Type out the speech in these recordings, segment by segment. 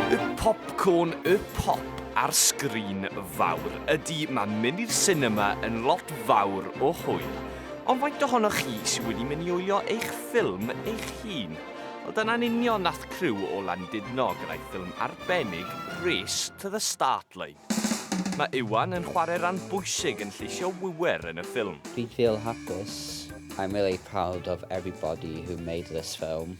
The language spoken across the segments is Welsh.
Y popcorn, y pop a'r sgrin fawr. Ydy, mae mynd i'r sinema yn lot fawr o hwyl. Ond faint ohonoch chi sydd wedi mynd i wylio eich ffilm eich hun? Wel, dyna'n union nath criw o Landudno gyda'i ffilm arbennig Race to the Start Line. Mae Iwan yn chwarae ran bwysig yn lleisio wiwer yn y ffilm. Fi'n feel hapus. I'm really proud of everybody who made this film.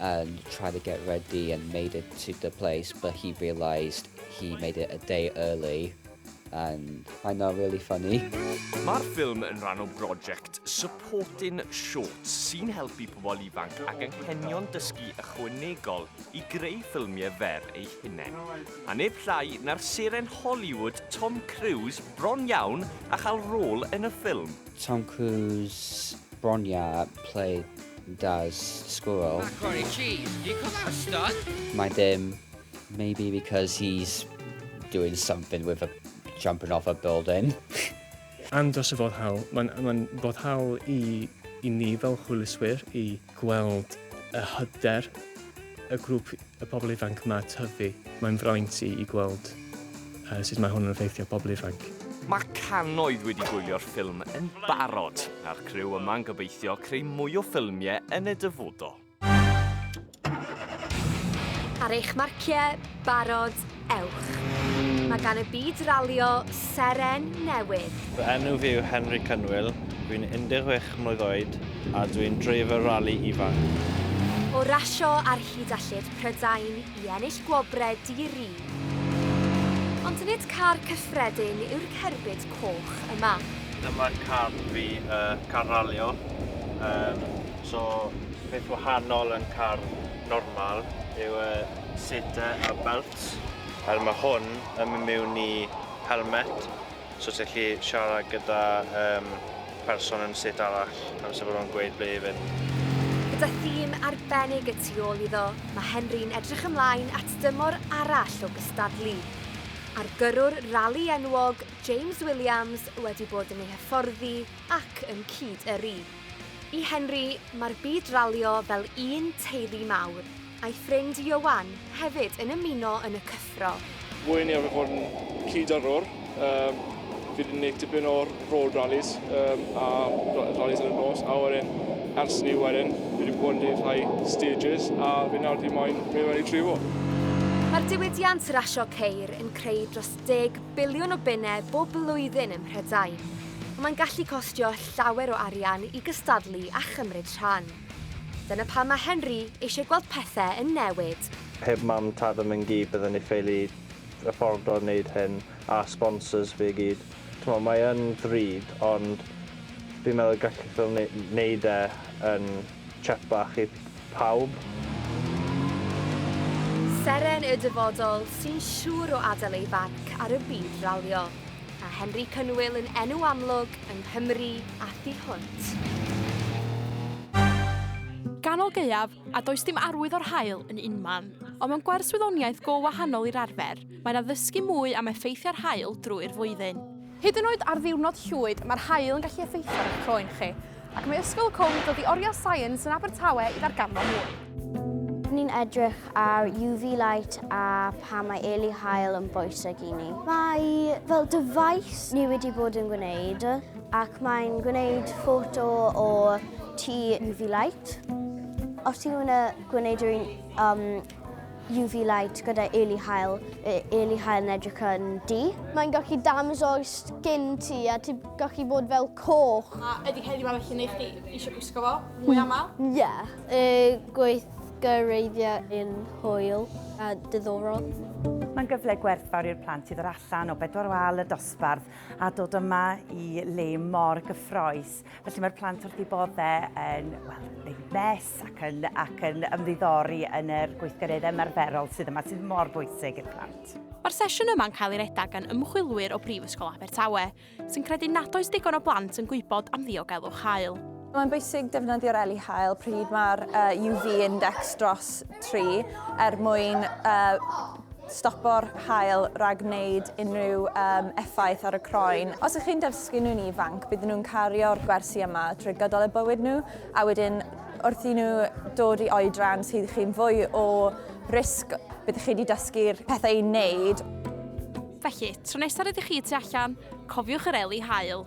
and try to get ready and made it to the place, but he realised he made it a day early and I know really funny. Mae'r ffilm yn rhan o brosiect Supporting Shorts sy'n helpu pobl ifanc ac anghenion dysgu ychwanegol i greu ffilmiau fer ei hunain. A neb llai na'r seren Hollywood Tom Cruise bron iawn a chael rôl yn y ffilm. Tom Cruise Bronya play does squirrel. Macaroni cheese, do you call that a stunt? Mae dim, maybe because he's doing something with a jumping off a building. Andros o foddhaol. Mae'n ma boddhaol i, i ni fel hwyluswyr i gweld y hyder y grŵp y pobl ifanc yma tyfu. Mae'n fraint i i gweld sut mae hwn yn effeithio pobl ifanc. Mae cannoedd wedi gwylio'r ffilm yn barod, a'r criw yma'n gobeithio creu mwy o ffilmiau yn y dyfodol. Ar eich marciau, barod, Ewch! Mae gan y byd ralio seren newydd. Fy enw fi yw Henry Cynwyl, dwi'n 16 mlwydd oed a dwi'n dreifwr rali ifanc. O rasio ar hyd a lled Prydain i ennill gwobrau di-ri. Ond nid car cyffredin yw'r cerbyd coch yma. Dyma car fi, car ralio. So beth wahanol yn car normal yw y... seater a belt. Fel mae hwn yn mynd mewn i helmet, so ti'n gallu siarad gyda um, person yn set arall amser bod nhw'n gweud ble i fynd. Gyda thîm arbennig y tu ôl iddo, mae Henry'n edrych ymlaen at dymor arall o gystadlu. A'r gyrrwr rali enwog, James Williams, wedi bod yn ei hyfforddi ac yn cyd-yrru. I Henry, mae'r byd ralio fel un teulu mawr. A'i ffrind Ioan hefyd yn ymuno yn y cyffro. Fwy neu arfer fod yn cyd-yrrwr, um, fi wedi gwneud tipyn o road rallies um, a rallies yn y nos, a wedyn ers ni wedyn, fi wedi bod yn gwneud rhai stages, a fi nawr wedi moyn mynd mewn i trifo. Mae'r diwydiant rasio ceir yn creu dros 10 biliwn o bunnau bob blwyddyn ym Mhrydain, ond mae'n gallu costio llawer o arian i gystadlu a chymryd rhan. Dyna pam mae Henry eisiau gweld pethau yn newid. Heb mam tad a myn gyd bydden ni ffeili affordo neud hyn a sponsors fi gyd. T'mo mae yn ddrud ond fi'n meddwl y gallith fel ne neud e yn chepach i pawb. Seren y dyfodol sy'n siŵr o adael ei farc ar y byd ralio. A Henry Cynwyl yn enw amlwg yng Nghymru a thu hwnt. Ganol gaeaf, a does dim arwydd o'r haul yn unman. Ond mewn gwers wyddoniaeth go wahanol i'r arfer, mae yna ddysgu mwy am effeithiau'r haul drwy'r flwyddyn. Hyd yn oed ar ddiwrnod llwyd, mae'r haul yn gallu effeithio ar eich croen chi. Ac mae Ysgol Cwm dod i oriel Science yn Abertawe i ddarganfod mwy. Ni'n edrych ar UV light a pa mae eli hael yn bwysig i ni. Mae fel dyfais ni wedi bod yn gwneud ac mae'n gwneud ffoto o ti UV light. Os ti ddim yn gwneud yr un um, UV light gyda early hael, y early hael yn edrych yn du. Mae'n gallu damso'r skin ti a ti'n gallu bod fel coch. A ydy heddiw ma felly neu chdi eisiau gwisgo fo mwy aml? Ie. Y gweithgareiddiau yn hwyl a diddorol. Mae'n gyfle gwerthfawr i'r plant i ddod allan o bedwar wal y dosbarth a dod yma i le mor gyffroes. Felly mae'r plant wrth i bodde yn well, wneud mes ac yn, ac yn ymddiddori yn yr gweithgareddau ymarferol sydd yma, sydd mor bwysig i'r plant. Mae'r sesiwn yma'n cael ei redag gan ymchwilwyr o Brifysgol Abertawe, sy'n credu nad oes digon o blant yn gwybod am ddiogelwch hael. Mae'n bwysig defnyddio'r eli hael pryd mae'r uh, UV index dros 3 er mwyn uh, stopo'r haul rhag gwneud unrhyw um, effaith ar y croen. Os ych chi'n dysgu nhw'n ifanc, byddwn nhw'n cario'r gwersi yma trwy gydol y bywyd nhw, a wedyn wrth i nhw dod i oedran sydd chi'n fwy o risg, byddwch chi wedi dysgu'r pethau i'n wneud. Felly, tro nesaf rydych chi tu allan, cofiwch yr eli haul.